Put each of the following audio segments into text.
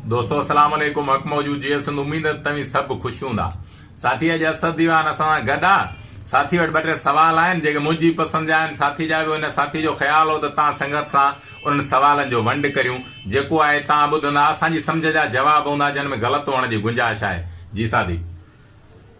دوستو السلام عليڪم حق موجود جيئي سنڌ اميد ته توهين سڀ خوش هوندا ساٿي اڄ اسد ديوان اسان سان گڏ آ ساٿي وٽ ٻه ٽي سوال آهن جيڪي منهنجي پسند جا آهن ساٿي جا ٻيو هن ساٿي جو خيال هو ته تان سنگت سان انهن سوالن جو ونڊ ڪريون جيڪو آهي تان ٻڌندا اسان جي سمجهه جا جواب هوندا جن ۾ غلط هئڻ جي گنجائش آهي جي ساٿي.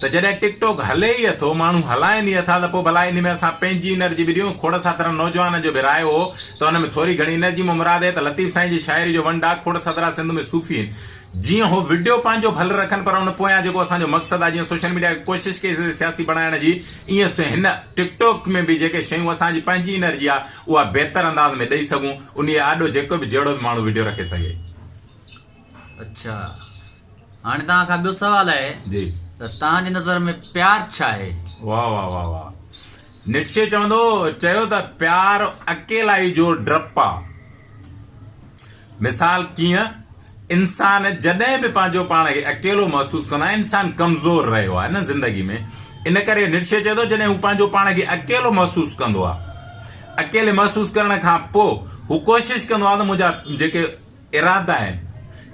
ته جڏهن ٽڪ ٽوڪ هلي ئي اٿو، ماڻهو هلائين ئي اٿا ته پوء ڀلا انهي ۾ اسان پنهنجي انرجي به ڏيون، کوڙ ساترن نوجوانن جو به راء هو ته ان ۾ ٿوري گهڻي انرجي مان مراد هي ته لطيف سائين جي شاعري جو ونڊ آ، کوڙ ساترا سنڌ ۾ صوفي هين جيئن هو وڊيو پنهنجو ڀل رکن پر ان پويان جيڪو اسان جو مقصد آ جيئن سوشل ميڊيا کي ڪوشش ڪئي سگهي سياسي بڻائڻ جي ايئن سو هن ٽڪ ٽوڪ ۾ به جيڪي شيون اسان جي پنهنجي انرجي آ اها بهتر انداز ۾ ڏئي سگهون انهي آڏو جيڪو به جهڙو به ماڻهو وڊيو رکي سگهي. اچا. هاڻي توهان کان ٻيو سوال آهي جي ته توهان جي نظر ۾ پيار ڇا آهي؟ واهه واهه واهه واهه نٽشي چوندو چيو ته پيار اڪيلائي جو ڊپ آ مثال ڪيئن انسان جڏهن به پنهنجو پاڻ کي اڪيلو محسوس ڪندو آهي انسان ڪمزور رهيو آهي نه زندگي ۾ ان ڪري نٽشي چئي ٿو جڏهن هو پنهنجو پاڻ کي اڪيلو محسوس ڪندو آهي اڪيلي محسوس ڪرڻ کان پوء هو ڪوشش ڪندو آهي ته منهنجا جيڪي ارادا آهن،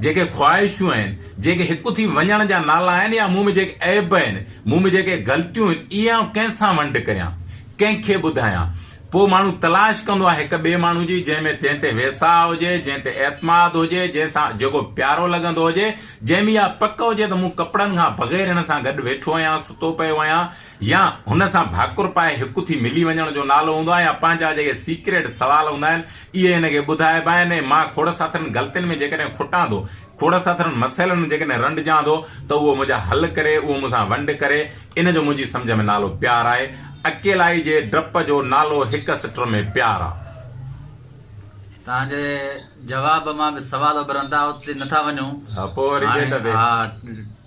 جيڪي خواهشون آهن، جيڪي هڪ ٿي وڃڻ جا نالا آهن يا مون ۾ جيڪي عيب آهن، مون ۾ جيڪي غلطيون آهن، اهي آئون ڪنهن سان ونڊ ڪريان، ڪنهن کي ٻڌايان؟ پوء ماڻهو تلاش ڪندو آهي هڪ ٻئي ماڻهو جي جنهن ۾ جنهن تي ويساهه هجي، جنهن تي اعتماد هجي، جنهن سان جيڪو پيارو لڳندو هجي، جنهن ۾ اها پڪ هجي ته مون ڪپڙن کان بغير هن سان گڏ ويٺو آهيان، ستو پيو آهيان، يا هن سان ڀاڪر پائي هڪ ٿي ملي وڃڻ جو نالو هوندو آهي يا پنهنجا جيڪي سيڪريٽ سوال هوندا آهن اهي هن کي ٻڌائبا آهن ۽ مان کوڙ ساٿرن غلطين ۾ جيڪڏهن کٽان ٿو کوڙ ساٿرن مسئلن ۾ جيڪڏهن رنڊجان ٿو ته اهو منهنجا حل ڪري اهو مون سان ونڊ ڪري ان جو منهنجي سمجهه ۾ نالو پيار آهي اڪيلائي جي ڊپ جو نالو هڪ سٽر ۾ پيار آ. تنهنجي جواب مان به سوال اڀرن ٿا اتي نه ٿا وڃون هاڻي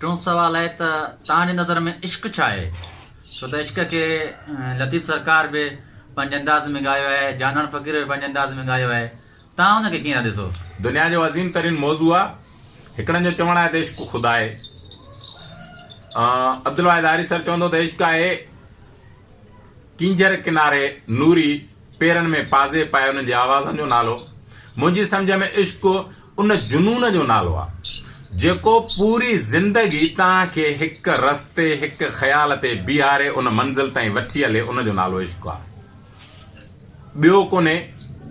ٽيون سوال آهي ته توهان جي نظر ۾ عشق ڇا آهي ڇو ته عشق کي لطيف سرڪار به پنهنجي انداز ۾ ڳايو آهي جانان فقير به پنهنجي انداز ۾ ڳايو آهي توهان ان کي ڪيئن ٿا ڏسو دنيا جو عظيم ترين موضوع آهي هڪڙن جو چوڻ آهي ته عشق خدا آهي عبدالواحد حارث سر چوندو ته عشق آهي ڪينجهر ڪناري نوري پيرن ۾ پازي پائي انهن جي آوازن جو نالو منهنجي سمجهه ۾ عشق ان جنون جو نالو آ جيڪو پوري زندگي توهان کي هڪ رستي هڪ خيال تي بيهاري ان منزل تائين وٺي هلي ان جو نالو عشق آ ٻيو ڪونهي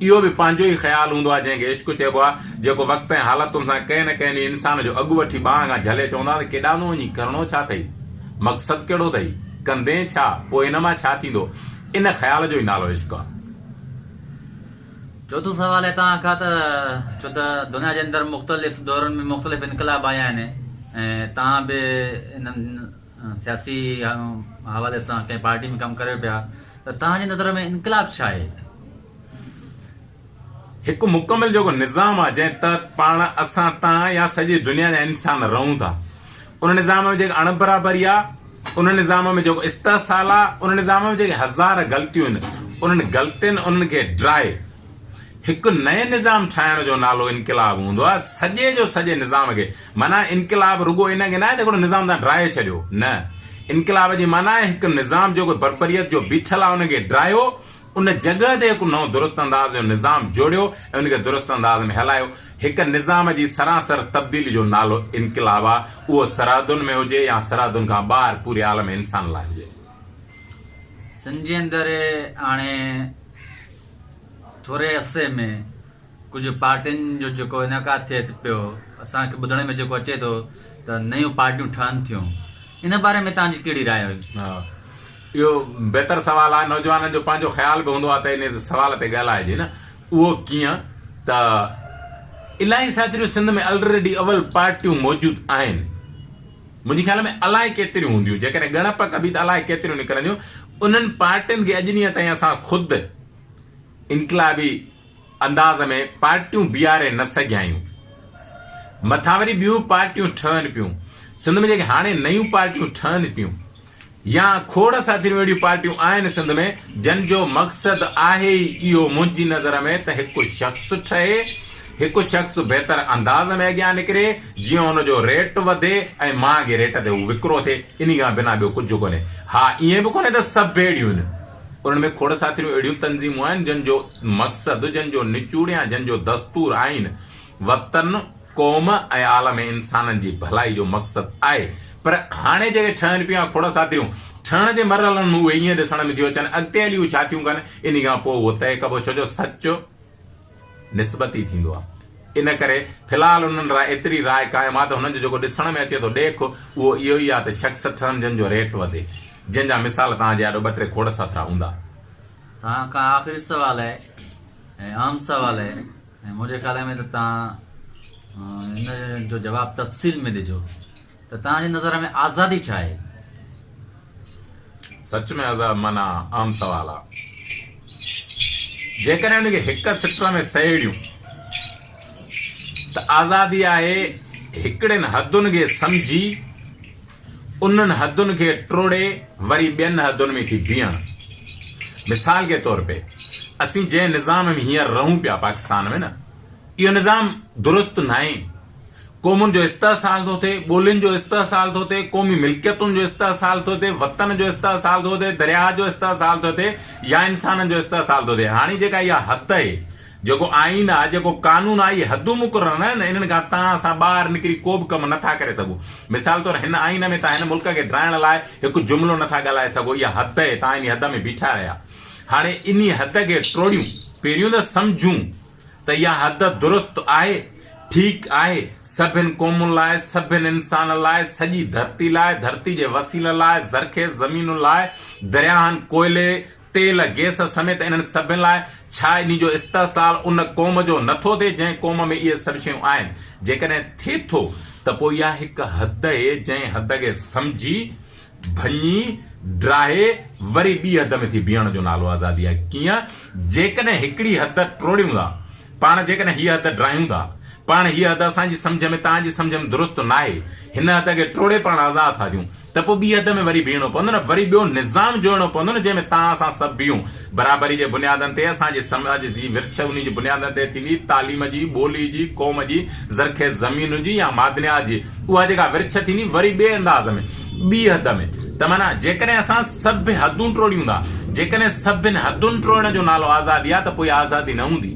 اهو به پنهنجو ئي خيال هوندو آ جنهن کي عشق چئبو آ جيڪو وقت ۽ حالتن سان ڪنهن نه ڪنهن ڏينهن انسان جو اڳ وٺي ٻانهن کان جهلي چوندا ته ڪيڏانهن ٿو وڃين ڪرڻو ڇا ٿئي مقصد ڪهڙو ٿئي ڪندين ڇا پوء ان مان ڇا ٿيندو ان خيال جو ئي نالو عشق آ. چوٿون سوال اتان کان ته ڇو ته دنيا جي اندر مختلف دورن ۾ مختلف انقلاب آيا آهن ۽ توهان به انهن سياسي حوالي سان ڪنهن پارٽي ۾ ڪم ڪريو پيا ته توهان جي نظر ۾ انقلاب ڇا آهي؟ هڪ مڪمل جيڪو نظام آهي جنهن تحت پاڻ، اسان، توهان يا سڄي دنيا جا انسان رهون ٿا. ان نظام ۾ جيڪا اڻبرابري آهي، ان نظام ۾ جيڪو استحصال آهي، ان نظام ۾ جيڪي هزار غلطيون آهن، انهن غلطين انهن کي ڊرائي هڪ نئين نظام ٺاهڻ جو نالو انقلاب هوندو آهي. سڄي جو سڄي نظام کي معنيٰ انقلاب رڳو ان کي ناهي ته هڪڙو نظام توهان ڊرائي ڇڏيو نه انقلاب جي معنيٰ آهي هڪ نظام جيڪو بربريت جو بيٺل آهي ان کي ڊرايو ان جڳهه تي هڪ نئون درست انداز جو نظام جوڙيو ۽ ان کي درست انداز ۾ هلايو. هڪ نظام جي سراسر تبديلي جو نالو انقلاب آ، اهو سرحدن ۾ هجي يا سرحدن کان ٻاهر پوري عالم انسان لاء هجي. سنڌ جي اندر هاڻي ٿوري عرصي ۾ ڪجهه پارٽين جو جيڪو انعقاد ٿئي پيو، اسان کي ٻڌڻ ۾ جيڪو اچي ٿو ته نيون پارٽيون ٺهن ٿيون، ان باري ۾ توهان جي ڪهڙي راء هئي؟ ها اهو بهتر سوال آهي، نوجوانن جو پنهنجو خيال به هوندو آهي ته انهي سوال تي ڳالهائجي نه، اهو ڪيئن ته الائي ساٿريون سنڌ ۾ الريڊي اول پارٽيون موجود آهن، منهنجي خيال ۾ الائي ڪيتريون هونديون، جيڪڏهن ڳڻپ ڪبي ته الائي ڪيتريون نڪرنديون، انهن پارٽين کي اڄ ڏينهن تائين اسان خود انقلابي انداز ۾ پارٽيون بيهاري نه سگهيايون، مٿان وري ٻيون پارٽيون ٺهن پيون، سنڌ ۾ جيڪي هاڻي نيون پارٽيون ٺهن پيون يا کوڙ ساٿيريون اهڙيون پارٽيون آهن سنڌ ۾ جن جو مقصد آهي ئي اهو منهنجي نظر ۾ ته هڪ شخص ٺهي، هڪ شخص بهتر انداز ۾ اڳيان نڪري جيئن ان جو ريٽ وڌي ۽ مهانگي ريٽ تي هو وڪرو ٿئي انهي کان بنا ٻيو ڪجهه ڪونهي، ها ائين به ڪونهي ته سڀ اهڙيون آهن. انهن ۾ کوڙ ساٿريون اهڙيون تنظيمون آهن، جن جو مقصد، جن جو نچوڙ يا جن جو دستور آئين، وطن، قوم ۽ عالم انسانن جي ڀلائي جو مقصد آهي. پر هاڻي جيڪي ٺهن پيون يا کوڙ ساٿريون ٺهڻ جي مرحلن ۾ اهي ائين ڏسڻ ۾ ٿيون اچن، اڳتي هلي اهي ڇا ٿيون ڪن، انهي کان پوء اهو طئي ڪبو، ڇو جو سچ، نسبتي ٿيندو آهي. ان ڪري في الحال انهن لاء ايتري راء قائم آهي ته هنن جو جيڪو ڏسڻ ۾ اچي ٿو ڏيک اهو اهو ئي آهي ته شخص سٺرنجن جو ريٽ وڌي، جنهن جا مثال توهان جي آڏو ٻه ٽي کوڙ سٿرا هوندا. توهان کان آخري سوال آهي ۽ اهم سوال آهي ۽ منهنجي خيال ۾ ته توهان ان جو جواب تفصيل ۾ ڏجو. ته توهان جي نظر ۾ آزادي ڇا آهي؟ سچ ۾ عذاب معنيٰ اهم سوال آ. جيڪڏهن ان کي هڪ سٽر ۾ سهيڙيون ته آزادي آهي هڪڙين حدن کي سمجهي انهن حدن کي ٽوڙي وري ٻين حدن ۾ ٿي بيهڻ. مثال جي طور پي اسين جنهن نظام ۾ هينئر رهون پيا پاڪستان ۾ نه اهو نظام درست ناهي، قومن جو استحصال ٿو ٿئي، ٻولين جو استحصال ٿو ٿئي، قومي ملڪيتن جو استحصال ٿو ٿئي، وطن جو استحصال ٿو ٿئي، درياهه جو استحصال ٿو ٿئي يا انسانن جو استحصال ٿو ٿئي. هاڻي جيڪا اها حد اهي، جيڪو آئين آهي، جيڪو قانون آهي، اهي حدون مقرر ناهن، انهن کان تان اسان ٻاهر نڪري ڪو به ڪم نٿا ڪري سگهون. مثال طور هن آئين ۾ تان هن ملڪ کي ڊاهڻ لاء هڪ جملو نٿا ڳالهائي سگهو، اها حد اهي، تان انهي حد ۾ بيٺا رهيا. هاڻي انهي حد کي ٽوڙيون، پهريون ته سمجهون ته اها حد درست آهي، ٺيڪ آهي، سڀني قومن لاء، سڀني انسانن لاء، سڄي ڌرتي لاء، ڌرتي جي وسيلن لاء، زرخيز زمينن لاء، درياهن، ڪوئلي، تيل، گيس سميت انهن سڀني لاء، ڇا انهي جو استحصال ان قوم جو نه ٿو ٿئي جنهن قوم ۾ اهي سڀ شيون آهن؟ جيڪڏهن ٿئي ٿو ته پوء اها هڪ حد اهي جنهن حد کي سمجهي، ڀڃي، ڊاهي، وري ٻي حد ۾ ٿي بيهڻ جو نالو آزادي آهي. ڪيئن؟ جيڪڏهن هڪڙي حد ٽوڙيون ٿا پاڻ، جيڪڏهن هيء حد ڊاهيون ٿا پاڻ، هيء حد اسان جي سمجهه ۾ توهان جي سمجهه ۾ درست ناهي، هن حد کي ٽوڙي پاڻ آزاد ٿا ٿيون، ته پوء ٻي حد ۾ وري بيهڻو پوندو نه، وري ٻيو نظام جوڙڻو پوندو نه جنهن ۾ توهان اسان سڀ بيهون. برابري جي بنيادن تي اسان جي سماج جي ورڇ انهي جي بنيادن تي ٿيندي، تعليم جي، ٻولي جي، قوم جي، زرخيز زمينن جي يا معدنيات جي، اها جيڪا ورڇ ٿيندي وري ٻئي انداز ۾، ٻي حد ۾، ته معنيٰ جيڪڏهن اسان سڀ حدون ٽوڙيون ٿا، جيڪڏهن سڀن حدن ٽوڙڻ جو نالو آزادي آهي ته پوء اها آزادي نه هوندي،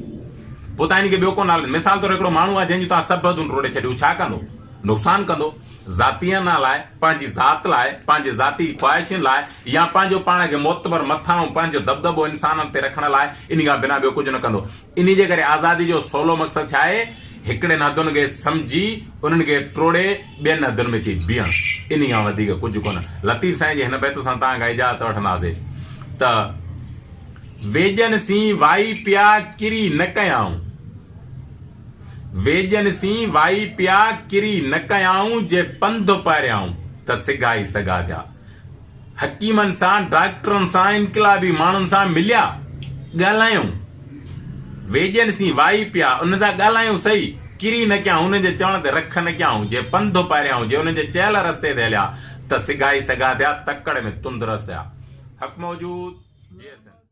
پوء تان ان کي ٻيو ڪو نالو ڏيو، مثال طور هڪڙو ماڻهو آهي جنهن جون توهان سڀ حدون ٽوڙي ڇڏيو هو ڇا ڪندو؟ نقصان ڪندو. ذاتيانا لاء، پنهنجي ذات لاء، پنهنجي ذاتي خواهشين لاء يا پنهنجو پاڻ کي معتبر مٿانهون پنهنجو دٻدٻو انسانن تي رکڻ لاء انهي کان بنا ٻيو ڪجهه نه ڪندو. انهي جي ڪري آزادي جو سولو مقصد ڇا آهي؟ هڪڙين حدن کي سمجهي انهن کي ٽوڙي ٻين حدن ۾ ٿي بيهڻ. انهي کان وڌيڪ ڪجهه ڪونه. لطيف سائين جي هن بيت سان توهان کان اجازت وٺنداسي ته، ويڄن سين وائي پيا ڪري نه ڪيائون. ويڄن سين وائي پيا ڪري نه ڪيائون جي پنڌ پاريائون ته سگهائي سگهاڌيا حڪيمن سان ڊاڪٽرن سان انقلابي ماڻهن سان مليا ڳالهايون ويڄن سين وائي پيا انهن سان ڳالهايون سهي ڪري نه ڪيائون انهن جي چوڻ تي رک نه ڪيائون جي پنڌ پاريائون جي انهن جي چيل رستي تي هليا ته سگهائي سگهاڌيا تڪڙ ۾ تند رسيا حڪم وجود جي سنڌ.